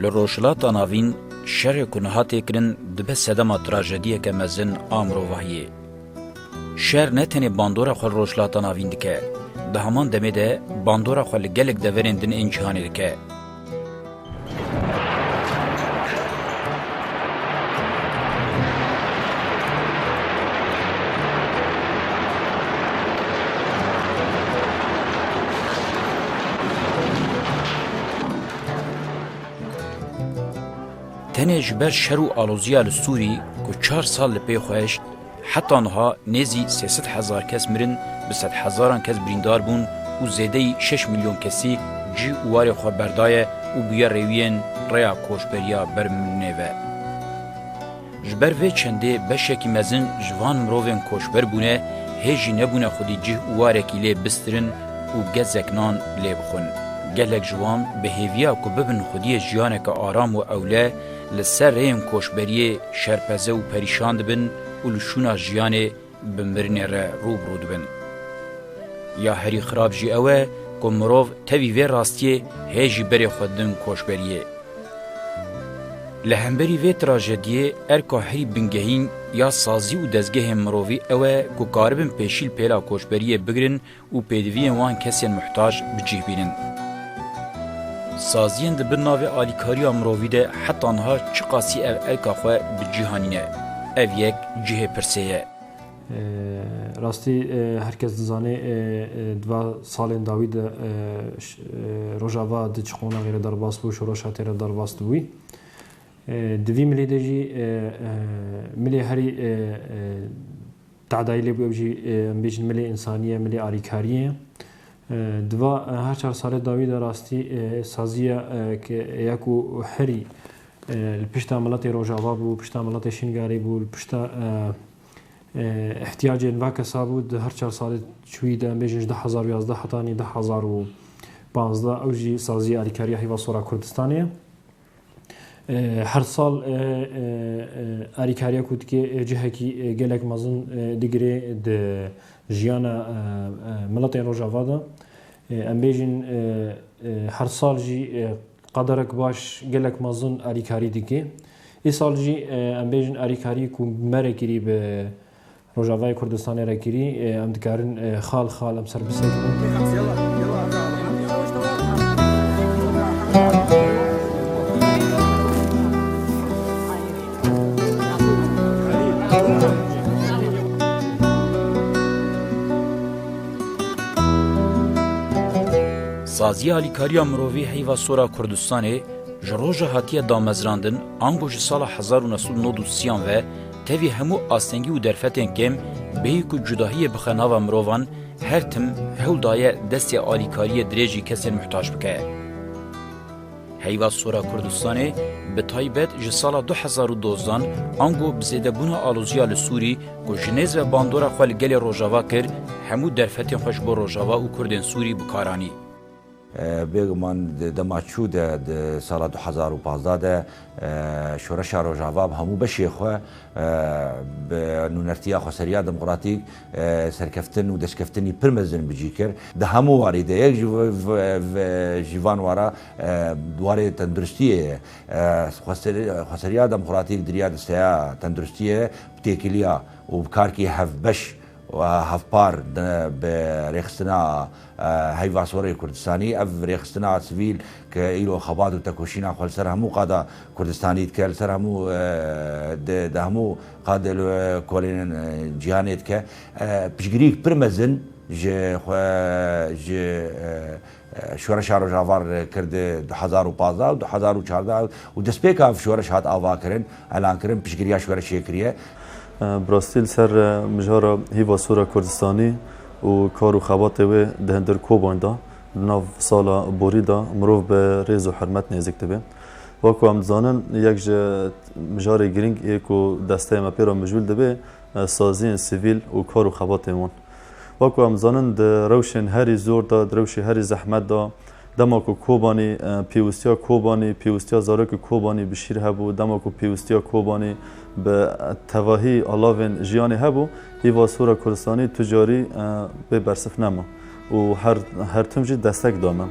Li Rojhilata Navîn şerê ku niha tê kirin dibe sedema trajediyeke mezin a mirovahiyê. Şer ne tenê bandora xwe li Rojhilata Navîn dike, di heman demê de bandora xwe li gelek deverên din ên cîhanê dike. Tenê ji ber şer û aloziya li Sûrî ku çar sal li pê xwe hişt, Heta niha nêzî sê sed hezar kes mirin, bi sedhezaran kes birîndar bûn û zêdeyî şeş milyon kesî cih û warê xwe berdaye û bûye rêwiyên rêya koçberiya ber mirinê ve. Ji ber vê çendê beşekî mezin ji van mirovên koçber bûne hê jî nebûne xwedî cih û warekî lê bistirin û gezek nan lê bixwin. Gelek ji wan bi hêviya ku bibin xwediyê jiyaneke aram û ewle, Li ser rêyên koçberiyê şerpeze û perîşan dibin û li şûna jiyanê bi mirinê re rû bi rû dibin. Ya herî xirab jî ew e ku mirov tevî vê rastiyê hê jî berê xwe din koçberiyê. Li hemberî vê trajediyê erka herî bingehîn ya sazî û dezgehên mirovî ew e ku karibin pêşîl pêla koçberiyê bigirin û pêdiviyên wan kesên muhtac bi cih bînin. Saziyên di bin navê alîkariya mirovî de heta niha çiqasî ev erka xwe bi cih anîne, ev yek cihê pirsê ye. Rastî her kes dizane di va salên dawî de Rojava di çi qonaxê re derbas bû, şoreşa tê re derbas dibûy. Di vî milê de jî milê herî Tehdayî lêbû ew jî em bêjin milê însaniyê, milê alîkariyê. Di va her çar salê dawî de rastî sazî ye ke ya ku herî li pişta miletê Rojava bû, pişta miletê Şingalê bû, li pişta îhtiyacên va kesa bû di her çar salê çûyî de em bêjin ji du hezar û yazdeh hetanî du hezar û panzdeh ew jî sazî alîkariya heyva sora Kurdistanê ye. Her sal alîkariya ku dike cihekî gelek mezin digire di jiyana miletên Rojava de. Em bêjin her sal jî qederek baş gelek mezin alîkarî dike. Îsal jî em bêjin alîkarî ku mere kirî bi Rojavayê Kurdistanê re kirî em dikarin xal xal em ser Sazî alîkariya mirovî heyva sora Kurdistanê ji roja hatiye damezrandin ango ji sala hezar û neh sed û nod û sî yan ve Tevî hemû astengî û derfetên kêm bêyî ku cudahiyê bixe nava mirovan, her tim hewl daye destê alîkariyê dirêjî kesên muhtac bike. Heyva Sora Kurdistanê bi taybet ji sala du hezar û dozdan ango bi zêdebûna aloziya li Sûrî ku ji nêz ve bandora xwe li gelê Rojava kir, hemû derfetên xwe ji bo Rojava û Kurdên Sûrî bi kar anî. Bêguman di dema çû de, di sala du hezar û pazdeh de Şoreşa Rojava bi hemû beşê xwe, bi nûnertiya xweseriya demokratîk serkeftin û destkeftinî pir mezin bi cî kir. Di hemû warî de yek ji van wara warê tenduristiyê ye. Xweseriya demokratîk di riya disteya tenduristiyê bi têkiliya û bi karkî hevbeş û hevpar bi rêxistina Heyva Soreyê Kurdistanî, ev rêxistina a sivîl ke îro xebat û tekoşîna xwe li ser hemû qada Kurdistanî dike, li ser hemû di di hemû qad li kolên cîhanê dike, piştgirîyek pir mezin ji xwe ji Şoreşa Rojavar kir di du hezar û pazdeh û du hezar û çardeh û destpêka ev şoreş hat avakirin, elankirin, piştgirîya şoreşê kiriye. Bi rastî li ser mijara Heyva Sora Kurdistanî û kar û xebatê wê di hundir koban de di nav sala borî de mirov bi rêz û hurmet nêzik dibe. Wek ku em dizanin yek ji mijarê girîng ê ku desteyê me pê re mijûl dibe saziyên sivîl û kar û xebatên wan. Wek ku em dizanin di rewşên herî zor de, di rewşê herî zehmet de, Dema ku Kobanî pêwîstiya Kobanî, pêwîstiya zarokê Kobanî bi şîr hebû, dema ku pêwîstiya Kobanî bi tevahî alavên jiyanê hebû, îva Sora Kurdistanî tu carî bê bersif nema û her her tim jî destek da me.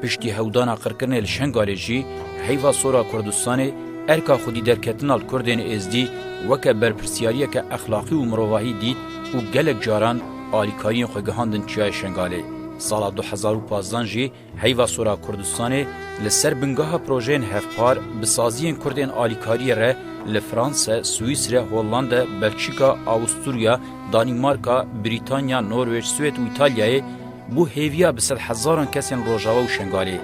Piştî hewdana qirkirinê li Şengalê jî heyva sora Kurdistanê erka xwedîderketina li Kurdên Êzdî weke berpirsyariyeke exlaqî û mirovahî dît û gelek caran alîkariyên xwe gihandin Çiyayê Şengalê. Sala du hezar û pazdeh jî heyva sora Kurdistanê li ser bingeha projeyên hevpar bi saziyên Kurdên alîkariyê re li Franse, Swîsre, Hollande, Belçîka, Awusturya, Danîmarka, Brîtanya, Norwêc, Swêd û Îtalyayê Bo hêviya bi sed hezaran kesên Rojava û Şengalê,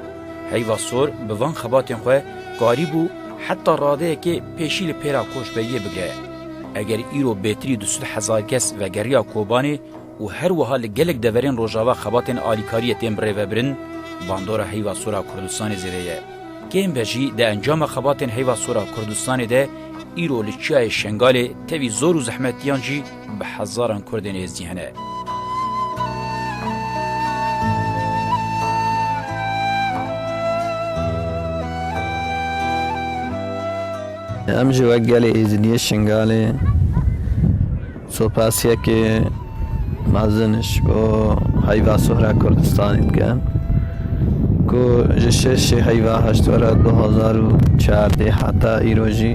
heyva sor bi van xebatên xwe karîbû heta radeyekê pêşî li pêra koçberiyê bigre. Eger îro bêtirî du sed hezar kes vegeriya Kobanê û her wiha li gelek deverên Rojava xebatên alîkariyê tên birêvebirin, bandora heyva sora Kurdistanê zêde ye. Kêm be jî di encama xebatên heyva sora Kurdistanê de îro li çiyayê Şengalê tevî zor û zehmetiyan jî, Bi hezaran Kurdên Êzidî hene. Em jî wek gelê Êzidiyê Şingalê sopasiyekê mezin ji bo heyva sohra Kurdistanê dikin. ku ji şeşê heyva hiştwera du hezar û çardeh heta îro jî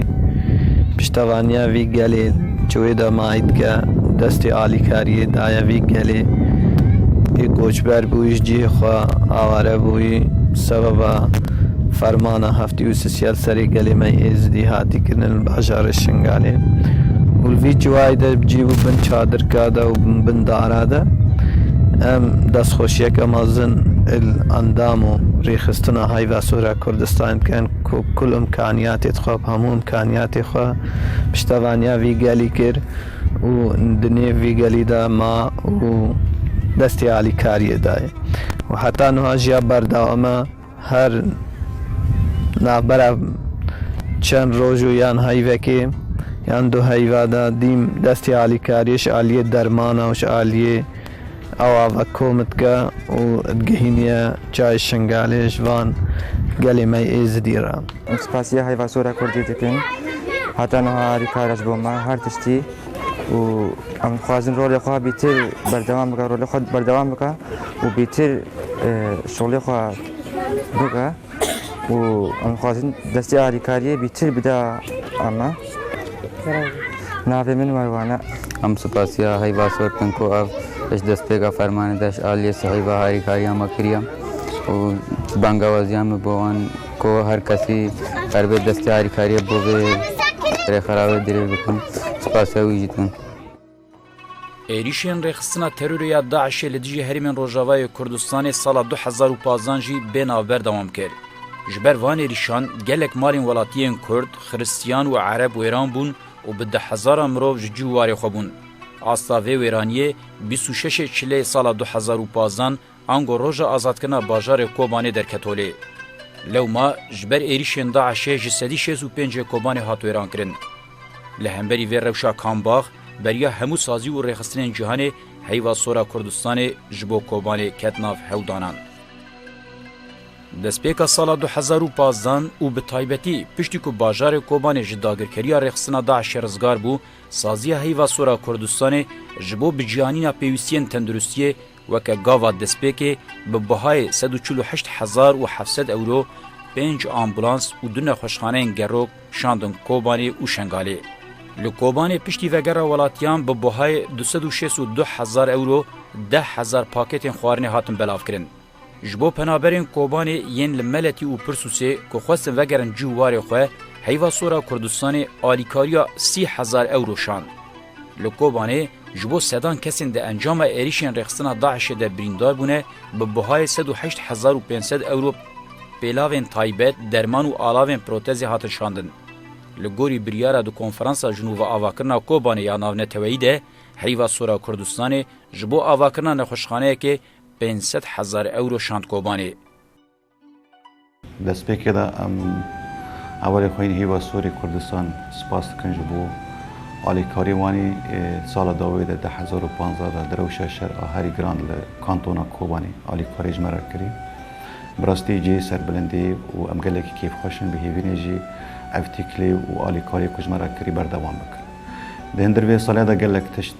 piştevaniya vî gelê ji wê dema ê dike, destê alîkariyê daye vî gelê ê koçber bûyî ji cihê xwe aware bûyî sebeba fermana Dî û sisiyal serê gelê me yê Êzidî hatî kirin li bajarê Şingalê û li vî ciwayê de cî bû bin çadirka de û bin dara de. Em destxweşiyeke mezin li endam û rêxistina Heyva Sora Kurdistanê dikin ku kul imkaniyatê dixwe, bi hemû imkaniyatê xwe piştevaniya vî gelî kir û di nêv vî gelî de ma û destê alîkariyê dayê û heta nuha jiya berdewam e. Her navbera çend roj û yan heyvekê yan du heyva de dîm destê alîkariyê ji aliyê dermana û ji aliyê awa ve kom dike û digihîniye çayê Şingalê ji van gelê me yê Êzidî re. Em spasiya Heyvasora Kurdî dikin. Heta niha alîkar e ji bo me her tiştî. û em dixwazin rolê xwe bîtir berdewam bike rolê xwe berdewam bike û bîtir e, şolê xwe bike û em dixwazin destê alîkariyê bîtir bide eme navê min merwane Em spasiya heyva sor dikin ku ev ji destpêka fermanê de ji aliyê sihîva harîkariya me kiriye û bangewaziya me bo wan Ku her kesî ber bê destê alîkariyê bo vê rêxerawê dirêj bikim. Spasê wî jî dikim. Êrîşên rêxistina terorê ya DAIŞ'ê li dijî herêmên Rojavayê Kurdistanê sala du hezar û panzdeh jî bê nav berdewam kir. Ji ber van êrîşan gelek malên welatiyên Kurd, Xiristiyan û Ereb wêran bûn û bi deh hezaran mirov ji cî û warê xwe bûn. Asta vê wêraniyê bîst û şeşê çileyê sala du hezar û panzdeh Ango roja azadkirina bajarê Kobanê derketolê. Lewma ji ber êrîşên DAIŞ'ê ji sedî şêst û pêncê Kobanê hat wêrankirin. Li hemberî vê rewşa kambax beriya hemû sazî û rêxistinên cîhanê heyva sora Kurdistanê ji bo Kobanê ket nav hewdanan. Destpêka sala du hezar û pazdeh û bi taybetî piştî ku bajarê Kobanê ji dagirkeriya rêxistina DAIŞ'ê rizgar bû, saziya heyva sora Kurdistanê ji bo biciyanîna pêwîstiyên tenduristiyê Weke gava destpêkê bi bihayê sed û çil û heşt hezar û heft sed ewro pênc ambulans û du nexweşxaneyên gerok şandin Kobanê û Şengalê. Li Kobanê piştî vegera welatiyan bi bihayê du sed û şêst û du hezar ewro deh hezar paketên xwarinê hatin belavkirin. Ji bo penaberên Kobanê yên li Meletî û Pirsûsê ku xwestin vegerin cî û warê xwe, Heyva Sora Kurdistanê alîkariya sî hezar ewro şand. Li Kobanê ji bo sedan kesên di encama êrîşên rêxistina DAIŞ'ê de birîndar bûne bi buhayê sed û heşt hezar û pênc sed ewro pêlavên taybet, derman û alavên protezê hatin şandin. Li gorî biryara di Konferansa Jin û Viavakirina Kobanê ya Navneteweyî de Heyva Sora Kurdistanê ji bo avakirina nexweşxaneyekê pênc sed hezar ewro şand Kobanê. Destpêkê de em hevalên xwe yên Hêva Sorê Kurdistan spas dikin ji bo alîkariyê wanî sala dawê de di hezar û panzdeh de di rewşa şer a herî giran li kantona Kobanê alîkariyê ji me re kirî. Bi rastî cihê serbilindê ye û em gelekî kêfxweş in, bihêvînê jî ev tîkilê û alîkariyê ku ji me re kirî berdewam bikin. Di hin dir vê saliya de gelek tişt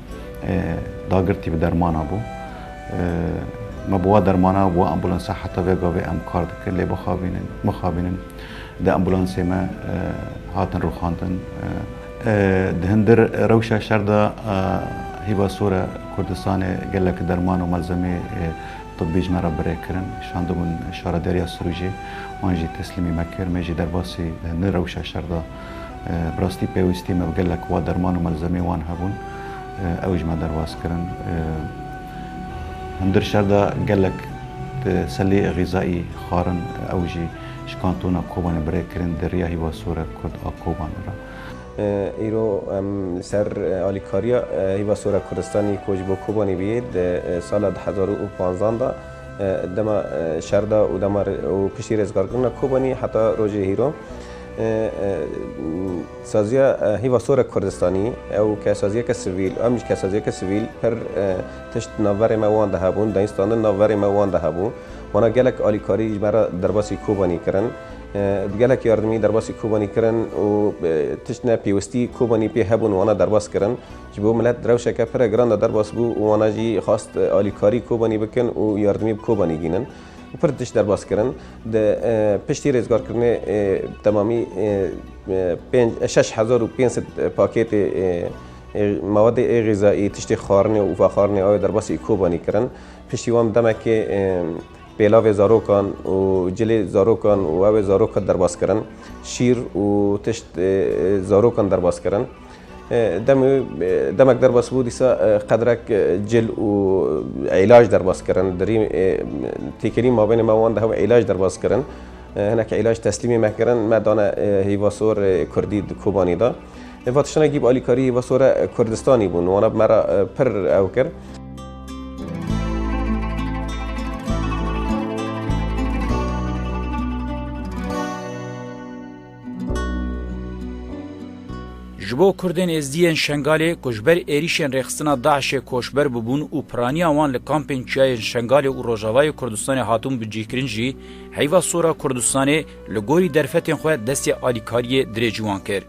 Dagirtî bi dermana bû. Me bi wa dermana û bi wa ambulansa heta vê gavê em kar dikin lê bixabînin, mixabînin di ambulansê me hatin rûxandin. Di hundir rewşa şer de Hîba Sore Kurdistanê gelek derman û malzemeyê tibî ji me re birê kirin. Şandibûn Şaredariya Sirûcê wan jî teslîmî me kir. Me jî derbasî di hundir rewşa şer de, Bi rastî pêwîstî me bi gelek wa derman û melzemeyên wan hebûn, ew ji me derbas kirin. Hundir şer de gelek selê xîzayî xwarin ew jî ji kantona Kobanê bi rê kirin di riya Hîva Sore Kurd a Kobanê re. Îro em li ser alîkariya Hîva Sore Kurdistanî ku ji bo Kobanê bûye di sala du hezar û panzan de dema şer de û dema û piştî rêzgarkirina Kobanî heta rojê hîro, Saziya Hîva Sorek Kurdistanî ew kesaziyeke sivîl û em jî kesaziyeke sivîl pir tişt navberê me wan de hebûn, dayînstandin navberê me wan de hebû. Wana gelek alîkarî ji me re derbasî Kobanî kirin. Di gelek yardimî derbasî Kobanî kirin û tişt ne pêwistî Kobanî pê hebûn wana derbas kirin. Ji bo milet rewşeke pire giran de derbas bû û wana jî xwest alîkarî Kobanî bikin û yardimî bi Kobanî gînin. û pir tişt derbas kirin. Di piştî rêzgarkirinê bi temamî şeş hezar û pênc sed pakêtê mewedê ê xîzayî, tiştê xwarinê û vexwarinê awê derbasî Kobanî kirin. Piştî wan bi demekê pêlavê zarokan û cilê zarokan û awê zarokan derbas kirin. Şîr û tişt zarokan derbas kirin. Demê demek derbas bû dîsa qedrek cil û îlaj derbas kirin. Dirî têkilî mabênê me wan de hev îlaj derbas kirin. Hinek îlaj teslîmê me kirin, me dane hîvasor Kurdî di Kobanî de. Eva tiştine gîb alîkarî hîvasora Kurdistanî bûn. Wana bi me re pir ew kir. Ji bo Kurdên Êzdî yên Şengalê ku ji ber êrîşên rêxistina DAIŞ'ê koçber bûbûn û piraniya wan li kampên çiyayên Şengalê û Rojavayê Kurdistanê hatibûn bicihkirin jî Heyva Sora Kurdistanê li gorî derfetên xwe destê alîkariyê dirêjî wan kir.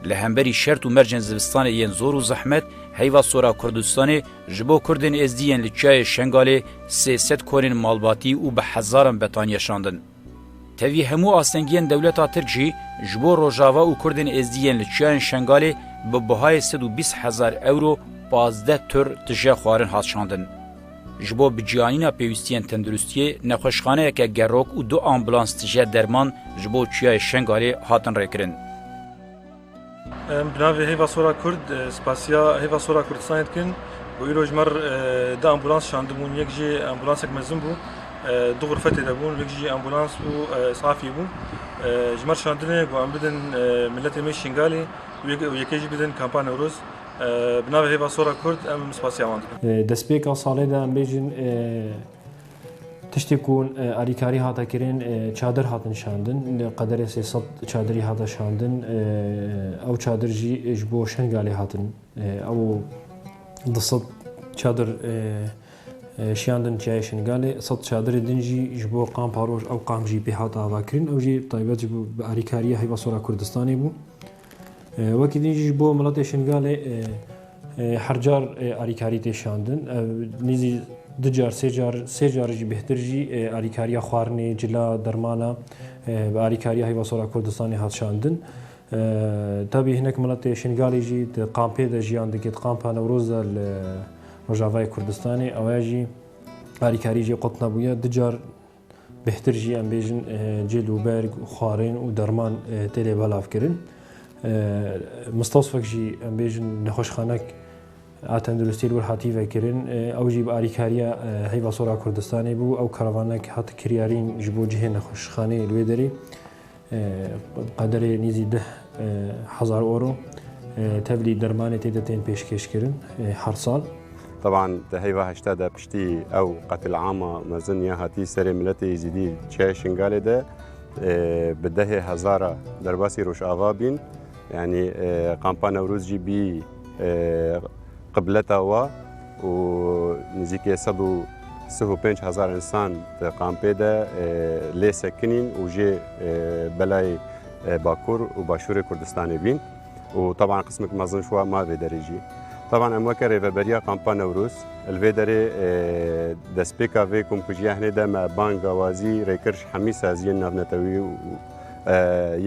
Li hemberî şert û mercên zivistanê yên zor û zehmet Heyva Sora Kurdistanê ji bo Kurdên Êzdî yên li Çiyayê Şengalê sê sed konên malbatî û bi hezaran betanî yaşandin. Tevî hemû astengiyên dewleta Tirk jî ji bo Rojava û Kurdên Êzdî yên li çiyayên Şengalê bi bihayê sed û bîst hezar ewro pazdeh tur tije xwarin hat şandin. Ji bo biciyanîna pêwîstiyên tenduristiyê nexweşxaneyeke gerok û du ambulans tije derman ji bo çiyayê Şengalê hatin rêkirin. Em bi navê Hêva Sora Kurd spasiya Hêva Sora Kurdistanê dikin û îro ji mer di ambulans şandibûn yek jî ambulansek mezin bû du xurfetê de bûn yek jî ambulans û isafî bû ji mer şandinê ku em bidin miletê me Şingalê û yekê jî bidin kampa Newroz bi navê Hêva Sora Kurd em spasiya wan dikin. Destpêka salê de em bêjin Tiştê ku alîkarî hate kirin çadir hatin şandin li qederê sê sed çadirî hate şandin ew çadir jî ji bo Şengalê hatin ew di sed çadir şiyandin çiyayê Şengalê sed çadirê din jî ji bo qampa roj ew qam jî pê hate avakirin ew jî taybet ji alîkariya heyva sora Kurdistanê bû. Wekî din jî ji bo miletê Şingalê hercar alîkarî tê şandin. Ev nîzî du car sê car sê car jî bêhtir jî alîkariya xwarinê, cila, dermana bi alîkariya Heyva Sor a Kurdistanê hat şandin. Tabî hinek miletê Şingalê jî di kampê de jiyan dike di kampa Newroz de li Rojavayê Kurdistanê. Ewaya jî alîkarî jê qut nebûye. Du car Bêhtir jî em bêjin cil û berg û xwarên û derman tê lê belavkirin. Mistosfek jî em bêjin nexweşxanek a tenduristiyê li wir hatî vekirin. Ew jî bi alîkariya Heyva Sora Kurdistanê bû. Ew karavanek hat kiryarîn ji bo cihê nexweşxaneyê li wê derê. Qederê nêzî deh hezar euro tevlî dermanê tê de tên pêşkêşkirin her sal. Teban di heyva heştê de piştî ew qetilama mezin ya hatî serê miletê Êzîdî Çiyayê Şingalê de bi dehê hezara derbasî Rojava bîn. Yanî Qampa Newroz jî bî qibleta we û nizîkê sed û sih û pênc hezar însan di qampê de lê sekinîn û jê belayê Bakur û Başûrê Kurdistanê bîn û teban qismek mezin ji wan ma vê derê jî. Teban em weke Rêveberiya Qampa Newroz li vê derê destpêka vê komkujiya hinê de me bang wazî rêkir ji hemî saziyên navnetewî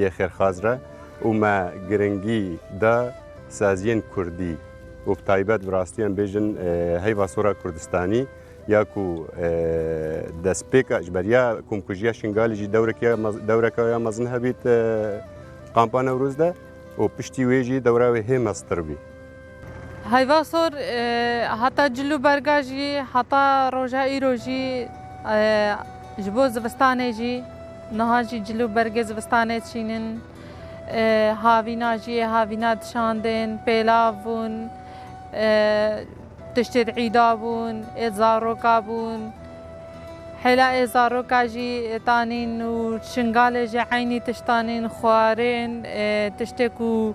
yê xêrxwaz re. û me giringî da saziyên kurdî û bi taybet bi rastî em bêjin heyva sora kurdistanî ya ku destpêka ji beriya komkujiya Şingalî jî dewrekî dewreka ya mezin hebît Kampa Newroz de û piştî wê jî dewra wê hê meztir bî. Heyva sor heta cil û berga jî heta roja îro jî ji bo zivistanê jî niha jî cil û bergê zivistanê çînin havîna jî yê havîna dişandin pêlav bûn tiştê di îda bûn ê zaroka bûn hêla ê zaroka jî tanîn û şingalê jî eynî tiştanîn xwarin tiştê ku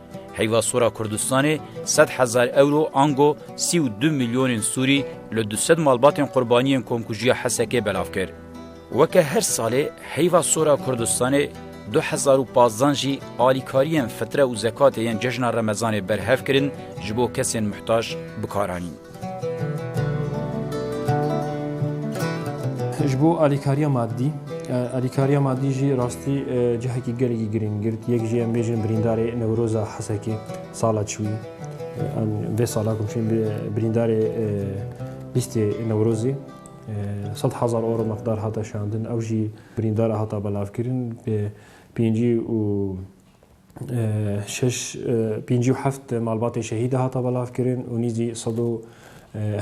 Heyva sora Kurdistanê sed hezar ewro ango sî û du milyonên Sûrî li du sed malbatên qurbaniyên komkujiya Hesekê belav kir. Weke her salê heyva sora Kurdistanê du hezar û pazdeh jî alîkariyên fitre û zekatê yên cejna Remezanê berhev kirin ji bo kesên muhtac bikaranîn. Ji bo alîkariya madî, alîkariya madî jî rastî cihekî gelekî girîng girt. Yek jî em bêjin birîndarê Newroza Hesekê sala çûyî. Em vê sala ku çûyîn birîndarê lîstê Newrozê sed hezar euro miqdar hate şandin. Ew jî birîndara hata belavkirin bi pêncî û şeş pêncî û heft malbatê şehîdê hata belavkirin û nîzî sed û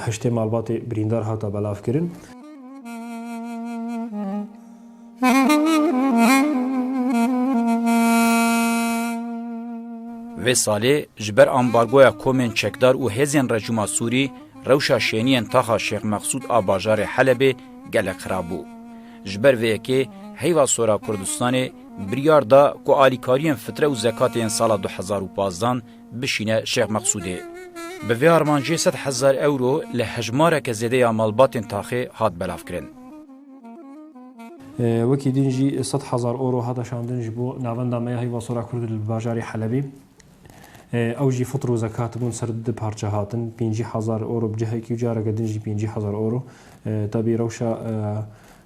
heştê malbatê birîndar hata belavkirin. Vê salê ji ber ambargoya komên çekdar û hêzên rejîma Sûrî rewşa şêniyên taxa Şêx Mexsûd a bajarê Helebê gelek xirab bû. Ji ber vê yekê heyva Sora Kurdistanê biryar da ku alîkariyên fitre û zekatê yên sala du hezar û pazdan bişîne Şêx Meqsûdê. Bi vê armancê sed hezar ewro li hejmareke zêde ya malbatên taxê hat belavkirin. Wekî din jî sed hezar ewro hate şandin ji bo navenda me ya Heyva Sora Kurd li bajarê Helebê. Ew jî fitr û zekat bûn ser du parçe hatin, pêncî hezar ewro bi cihekî û careke din jî pêncî hezar ewro. Tevî rewşa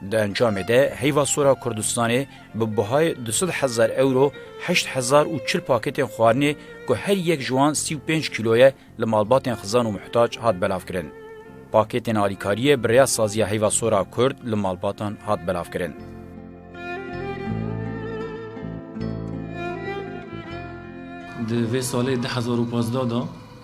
Di encamê de heyva sora Kurdistanê bi buhayê du sed hezar ewro heşt hezar û çil paketên xwarinê ku her yek ji wan sî û pênc kîlo ye li malbatên xizan û muhtac hat belavkirin. Paketên alîkariyê bi rêya Saziya Heyva Sora Kurd li malbatan hat belavkirin. Di vê salê du hezar û pazdeh de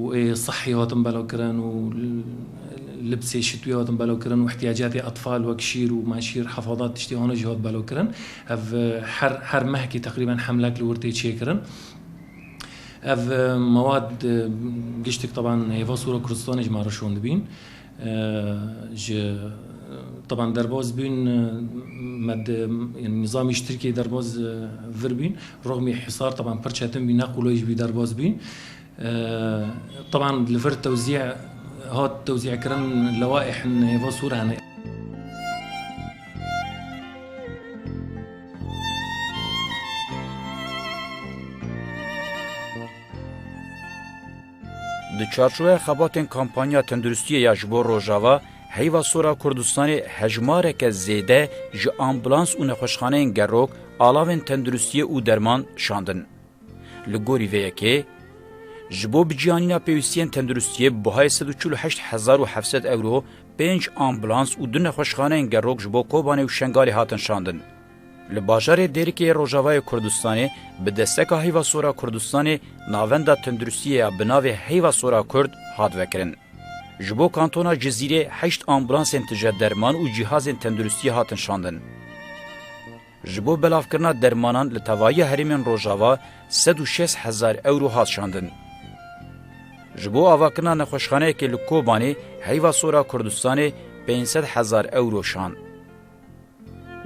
û ê sihî hatin belavkirin û libsê şitwî hatin belavkirin û îhtîyacatê etfal wek şîr û meşîr hefadat tiştê wan jî hat belavkirin. Ev her her mehkî teqrîben hemlek li wir tê çêkirin. Ev mewad giştik teban hêva Sûra Kurdistanê ji me re şon dibîn. Ji teban derbas bûn me yanî nizamî ji Tirkiyeyê derbas vir bûn. Rixmî hîsar teban pir çetin bû ne qulay jî bû derbas bûn. Teban li vir tewzî hat tewzîkirin lewaîh nêva sor hene. Di çarçoveya xebatên kampanya tenduristiyê ya ji bo Rojava, heyva sor a Kurdistanê hejmareke zêde ji ambulans û nexweşxaneyên gerok alavên tenduristiyê û derman şandin. Li gorî vê yekê, ji bo biciyanîna pêwîstiyên tenduristiyê bi buhayê sed û çil û heşt hezar û heft sed ewro pênc ambulans û du nexweşxaneyên gerok ji bo Kobanê û Şengalê hatin şandin. Li bajarê Dêrikê yê Rojavayê Kurdistanê bi desteka Heyva Sora Kurdistanê navenda tenduristiyê ya bi navê Heyva Sora Kurd hat vekirin. Ji bo kantona Cizîrê heşt ambulansên tije derman û cîhazên tenduristiyê hatin şandin. Ji bo belavkirina dermanan li tevahiya herêmên Rojava sed û şêst hezar ewro hat şandin. Ji bo avakirina nexweşxaneyekê li Kobanê heyva sora Kurdistanê pênc sed hezar ewro şand.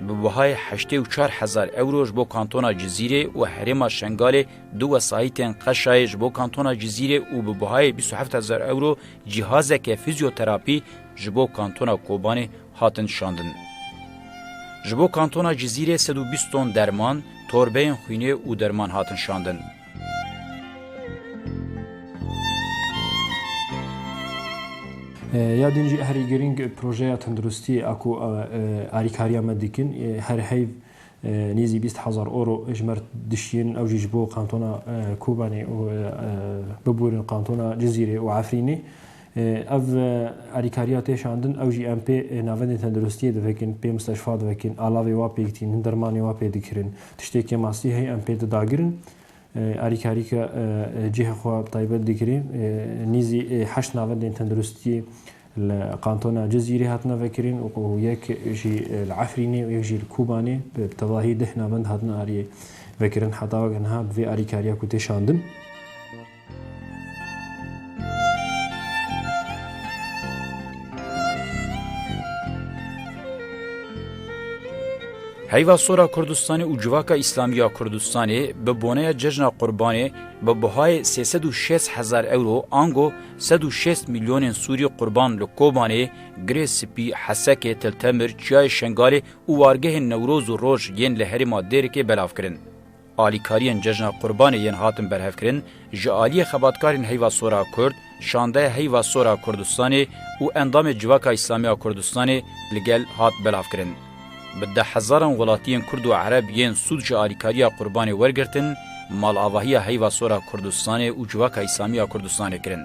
Bi wehayê heştê û çar hezar ewro ji bo kantona Cizîrê û herêma Şengalê du wesayîtên qeşayê ji bo kantona Cizîrê û bi wehayê bîst û heft hezar ewro cîhazeke fîzyoterapî ji bo kantona Kobanê hatin şandin. Ji bo kantona Cizîrê sed û bîst ton derman, torbeyên xwînê û derman hatin şandin. Ya din jî herî girîng projeya tenduristiyê ya ku alîkariya me dikin her heyv nêzî bîst hezar oro ji me re dişiyên ew jî ji bo kantona Kobanê û bibûrin kantona Cizîrê û Efrînê Ev alîkariya tê şandin, ew jî em pê navendên tenduristiyê divekin, pê misteşfa divekin, alavê wa pêk tînin, dermanê wa pê dikirin. Tiştêkê mastî heye em pê di dagirin. Alîkarîka cihê xwe taybet dikirê. Nîzî heşt navendên tenduristiyê li kantona Cizîrê hatine vekirin û yek jî li Efrînê û yek jî li Kobanê bi tevahî deh navend hatine aliyê vekirin. Heta weke niha bi vê alîkariya ku tê şandin. Heyva sora Kurdistanê û civaka îslamî ya Kurdistanê bi boneya cejna Qurbanê bi bihayê sê sed û şêst hezar ewro ango sed û şêst mîlyonên sûrî qurban li Kobanê, Girê Spî, Hesekê, Tiltemir, Çiyayê Şengalê û wargehên Newroz û Roj yên li herêma Dêrikê belav kirin. Alîkariyên Cejna Qurbanê yên hatin berhevkirin ji aliyê xebatkarên Heyva Sor a Kurd, Şandeya Heyva Sor a Kurdistanê û endamê Civaka Îslamî a Kurdistanê li gel hat belavkirin. Bi deh hezaran welatiyên Kurd û Ereb yên sûd ji alîkariya Qurbanê wergirtin, malavahiya Heyva Sor a Kurdistanê û Civaka Îslamî a Kurdistanê kirin.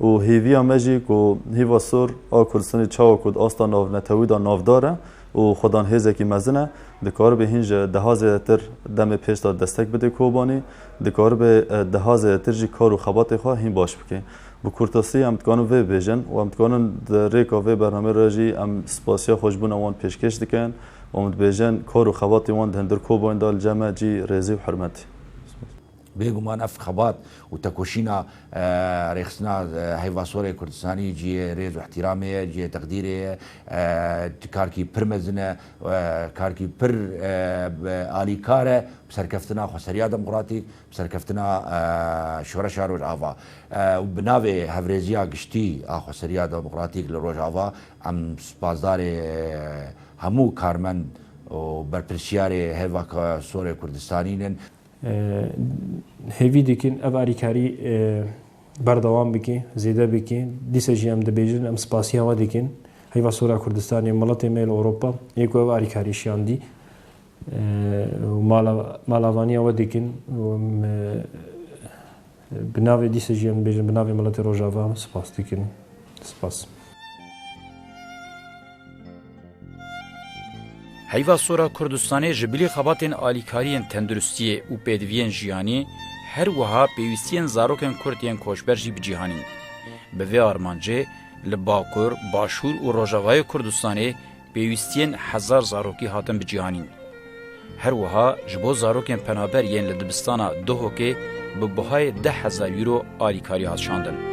Û hêviya me jî ku hêva sor a Kurdistanê çawa ku di asta navnetewî de navdar e û xwedan hêzekî mezin e, dikaribe hîn ji deha zêdetir demê pêş de destek bide Kobanî, dikaribe deha zêdetir jî kar û xebatê xwe hîn baş bike. Bi kurtasî em dikarin vê bibêjin û em dikarin di rêka vê bernameyê re jî em spasiya xweşbûna wan pêşkêş dikin û em dibêjin kar û xebatê wan di hundir Kobanî de li cem e cî rêzî û hirmetî. Bêguman ev xebat û tekoşîna rêxistina heyva sor ê Kurdistanî cihê rêz û îhtîramê ye, cihê teqdîrê ye. Karkî pir mezin e, karkî pir alîkar e bi serkeftina xweseriya demokratîk, bi serkeftina şoreşa Rojava. Û bi navê hevrêziya giştî a xweseriya demokratîk li Rojava em spasdarê hemû karmend û berpirsyarê heyva sor ê Kurdistanî ne. Hêvî dikin ev alîkarî berdewam bike, zêde bike. Dîsa jî em dibêjin, em spasiya we dikin. Heyva Sora Kurdistanê, miletê me li Ewropa yê ku ev alîkarî şiyandî û malavaniya we dikin û em Bi navê dîsa jî em dibêjin bi navê miletê Rojava em spas dikin. Spas. Heyva sora Kurdistanê ji bilî xebatên alîkariyên tenduristiyê û pêdiviyên jiyanî her wiha pêwîstiyên zarokên Kurd yên koçber jî bicîhanîn. Bi vê armancê li Bakur, Başûr û Rojavayê Kurdistanê Pêwîstiyên hezar zarokî hatin biciyanîn. Her wiha ji bo zarokên penaber yên li dibistana Duhokê bi buhayê deh hezar euro alîkarî hat şandin.